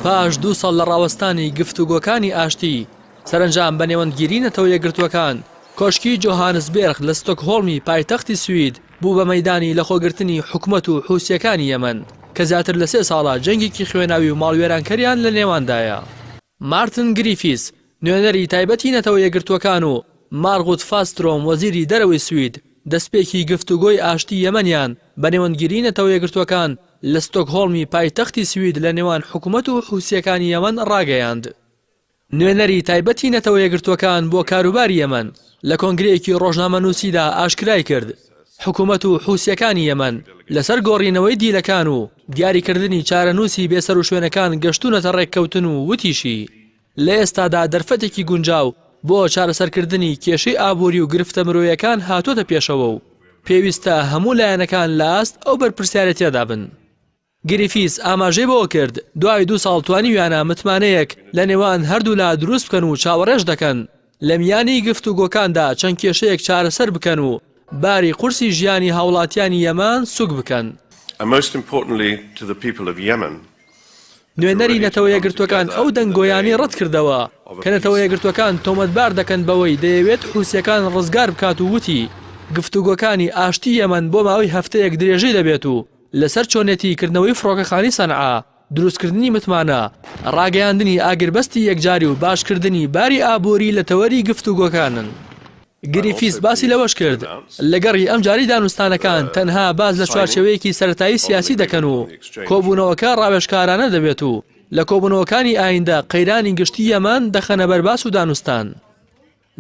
پاش دوو ساڵ لە ڕاوەستانی گفتوگۆکانی ئاشتی، سەرەنجام بە نێوەندگیری نەتەوە یەکگرتووەکان، کۆشکی جۆهانسبێرغ لە ستۆکهۆڵمی پایتەختی سوید بوو بە مەیدانی لەخۆگرتنی حکومەت و حوسییەکانی یەمەن، کە زیاتر لە سێ ساڵە جەنگێکی خوێناوی و ماڵوێرانکەریان لەنێواندایە. مارتن گریفیس، نوێنەری تایبەتی نەتەوە یەکگرتووەکان و مارغوت فاسترۆم وەزیری دەرەوەی سوید، دەستپێکی گفتوگۆی ئاشتی یەمەنیان بە نێوەندگیری نەتەوە یەکگرتووەکان لە ستۆکهۆڵمی پایتەختی سوید لە نێوان حکومەت و حوسییەکانی یەمەن ڕاگەیاند. نوێنەری تایبەتی نەتەوە یەکگرتووەکان بۆ کاروباری یەمەن لە کۆنگرەیەکی ڕۆژنامەنووسیدا ئاشکرایکرد، حکومەت و حوسییەکانی یەمەن لەسەر گۆڕینەوەی دیلەکان و دیاریکردنی چارەنووسی بێسەروشوێنەکان گەشتوونەتە ڕێککەوتن و وتیشی، لە ئێستادا دەرفەتێکی گونجاو بۆ چارەسەرکردنی کێشەی ئابووری و گرفتە مرۆیەکان هاتووەتە پێشەوە و پێویستە هەموو لایەنەکان لە ئاست ئەو بەرپرسیارێتییەدا بن. گریفیس ئاماژەی بەوەکرد، دوای دوو ساڵ توانیویانە متمانەیەک لە نێوان هەردوولا دروست بکەن و چاوەڕێش دەکەن لە میانی گفتوگۆکاندا چەند کێشەیەک چارەسەر بکەن و باری قورسی ژیانی هاوڵاتیانی یەمان سوک بکەن. نوێنەری نەتەوە یەکگرتووەکان ئەو دەنگۆیانەی ڕەتکردەوە کە نەتەوە یەکگرتووەکان تۆمەتبار دەکەن بەوەی دەیەوێت حوسییەکان ڕزگار بکات و وتی، گفتوگۆکانی ئاشتی یەمەن بۆ ماوەی هەفتەیەک درێژەی دەبێت و، لەسەر چۆنێتی کردنەوەی فڕۆکەخانی سەنعا، دروستکردنی متمانە، ڕاگەیاندنی ئاگربەستی یەکجاری و باشکردنی باری ئابووری لە تەوەری گفتوگۆکانن. گریفیس باسی لەوەشکرد، لەگەڕی ئەمجارەی دانوستانەکان تەنها باس لە چوارچێوەیەکی سەرەتایی سیاسی دەکەن و کۆبوونەوەکە ڕاوێژکارانە دەبێت و لە کۆبوونەوەکانی ئایندە قەیرانی گشتی یەمەن دەخەنە بەر باس و دانوستان.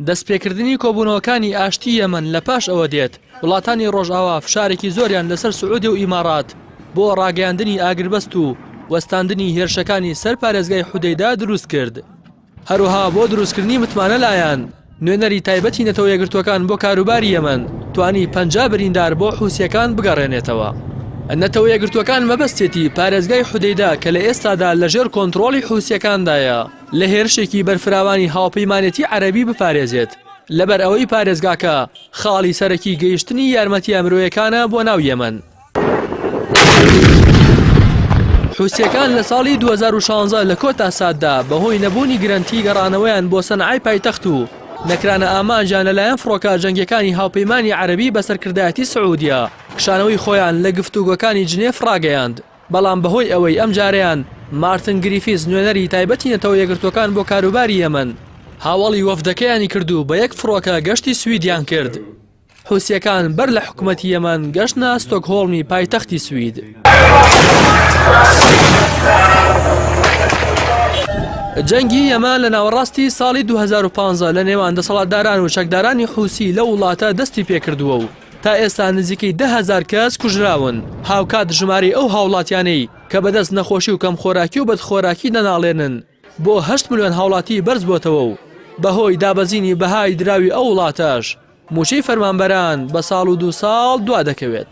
دەستپێکردنی کۆبوونەوەکانی ئاشتی یەمەن لە پاش ئەوە دێت، وڵاتانی ڕۆژئاوا فشارێکی زۆریان لەسەر سعودیە و ئیمارات بۆ ڕاگەیاندنی ئاگربەست و وەستاندنی هێرشەکانی سەر پارێزگای حودەیدە دروست کرد. هەروەها بۆ دروستکردنی متمانە لایان، نوێنەری تایبەتی نەتەوە یەکگرتووەکان بۆ کاروباری یەمەن توانی پەنجا بریندار بۆ حوسییەکان بگەڕێنێتەوە. نەتەوە یەکگرتووەکان مەبەستێتی پارێزگای حودەیدە کە لە ئێستادا لەژێر کۆنترۆڵی حوسییەکاندایە. لە هێرشێکی بەرفراوانی هاوپەیمانێتی عەرەبی بپارێزێت، لەبەر ئەوەی پارێزگاکە خاڵی سەرەکی گەیشتنی یارمەتییە مرۆیەکانە بۆ ناو یەمەن. حوسییەکان لە ساڵی دوو هەزار و شانزە لە کۆتا ساددا بەهۆی نەبوونی گرەنتی گەڕانەوەیان بۆ سەنعای پایتەخت و نەکرانە ئامانجیان لەلایەن فڕۆکە جەنگییەکانی هاوپەیمانی عەرەبی بە سەرکردایەتی سعوودیە، کشانەوەی خۆیان لە گفتوگۆکانی جنێف ڕاگەیاند. بەڵام بەهۆی ئەوەی ئەمجارەیان مارتن گریفیس نوێنەری تایبەتی نەتەوە یەکگرتووەکان بۆ کاروباری یەمەن هاوەڵی وەفدەکەیانی کرد و بە یەک فڕۆکە گەشتی سویدیان کرد حوسییەکان بەر لە حکومەتی یەمەن گەشتنە ستۆکهۆڵمی پایتەختی سوید. جەنگی یەمەن لە ناوەڕاستی ساڵی دوو هەزار و پازدە لە نێوان دەسەڵاتداران و چەکدارانی حوسی لەو وڵاتە دەستی پێکردووە و تا ئێستا نزیکەی دە هەزار کەس کوژراون، هاوکات ژمارەی ئەو هاوڵاتیانەی کە بەدەست نەخۆشی و کەمخۆراکی و بەدخۆراکی دەناڵێنن بۆ هەشت ملیۆن هاوڵاتی بەرزبۆتەوە و بەهۆی دابەزینی بەهای دراوی ئەو وڵاتەش موچەی فەرمانبەران بە ساڵ و دوو ساڵ دوادەکەوێت.